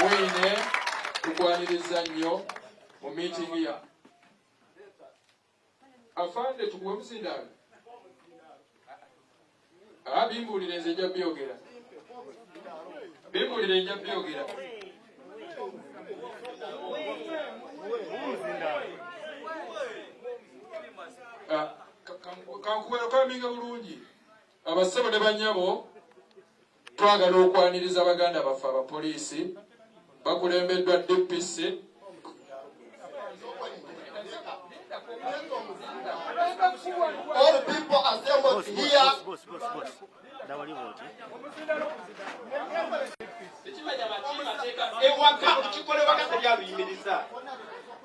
mwine tukwaniriza nnyo mu miitingi ya afande tukuwe muzindaalo abimbuulire nze nja byogera bimbuulire nja byogera ah, kankuwera kwaminga bulungi abassebo ne banyabo Twagala okwaniriza baganda baffe abapoliisi bakulembeddwa DPC All people assembled here. Ewaka ekikolebwa kati byaluyimiriza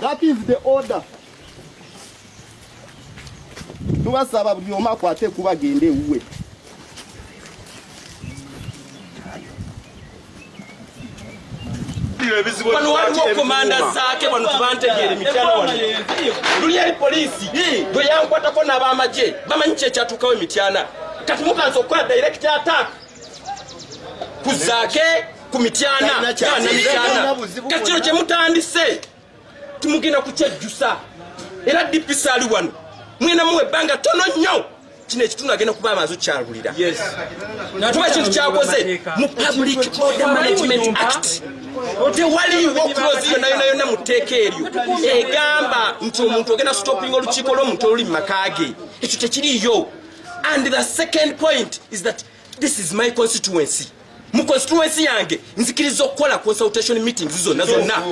That is the order. Tubasaba buli omu akwate kuba gende ewuwe. wano waliwo komanda zaake wano tubantegeere mityana wano luli eri poliisi bwe yankwatako n'abamagye bamanyi kyekyatuukawo emityana kati mukansi okukola direct attack kuzaake ku mityana namityana kati kino kyemutandise timugenda kukyejjusa era dpc ali wano mwena muwa ebbanga tono nnyo kino ekitundu agenda kuba amazi okyalulira kuba ekintu kyakoze mu public order management act tewaliwo kulozi yona yona yona mu tteeka eryo egamba nti omuntu ogenda stopinga olukiiko lw'omuntu oluli mu maka ge ekyo tekiriyo And the second point is that this is my constituency. Mu constituency yange nzikiriza okukola consultation meetings zonna zonna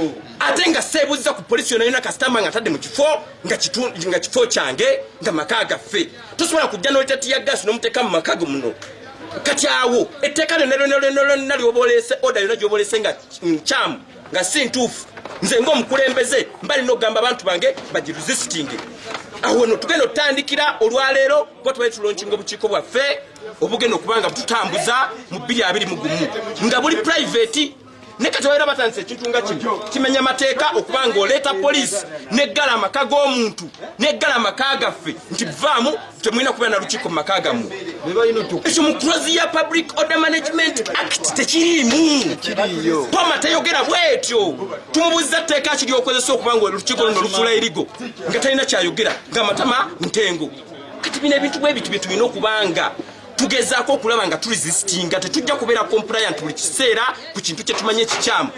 ate nga seebuuziza ku polisi yona yona kasitama nga atadde mu kifo nga kifo kyange nga maka gaffe tosobola kujja n'olitati ya gaasi n'omuteeka mu maka ge muno kati awo etteeka lyonna lyonna lyonna lyonna lyoboleese oda yona gyoboleese nga nkyamu mm, nga si ntuufu nze ngaomukulembeze mba lina okugamba abantu bange bagiresistinge awo no tugenda otutandikira olwaleero kuba tubali tulonkinga obukiiko bwaffe obugenda okubanga bututambuza mu bbiri abiri mu gumu nga buli private ne kati babeera batandisa ekintu nga kino kimenya amateeka okuba nga oleeta poliisi neggala amaka g'omuntu neggala amaka gaffe nti vaamu temulina kubeera na lukiiko mu maka gammwe ekyo mu close ya public order management act tekiriimu pama tayogera bwetyo tumubuuziza tteeka ki lyokozesa okuba nga olukiiko luno lufuula erigo nga talina kyayogera ngaamatama ntengo kati bino ebintu bwe bitu byetulina okubanga tugezaako okulaba nga tulisisitinga tetujja kubeera compliant buli kiseera ku kintu kyetumanyi ekikyamu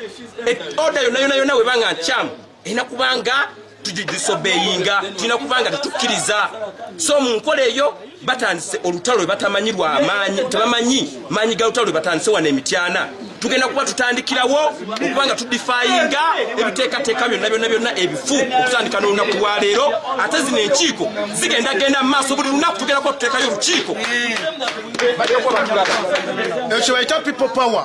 e, oda yona yona yona webanga nkyamu ena kubanga tujidisobeyinga tulina kubanga tetukkiriza so mu nkola eyo batandise olutalo lwe batamanyi lwa maanyi tebamanyi maanyi ga lutalo lwe batandise wano emityana tugenda kuba tutandikirawo okubanga tudifayinga ebiteekateeka byonna byonna byonna ebifu okutandika n'olunaku lwaleero ate zino enkiiko zigenda genda mu maaso buli lunaku tugenda kuba tuteekayo olukiiko ekyo bayita people power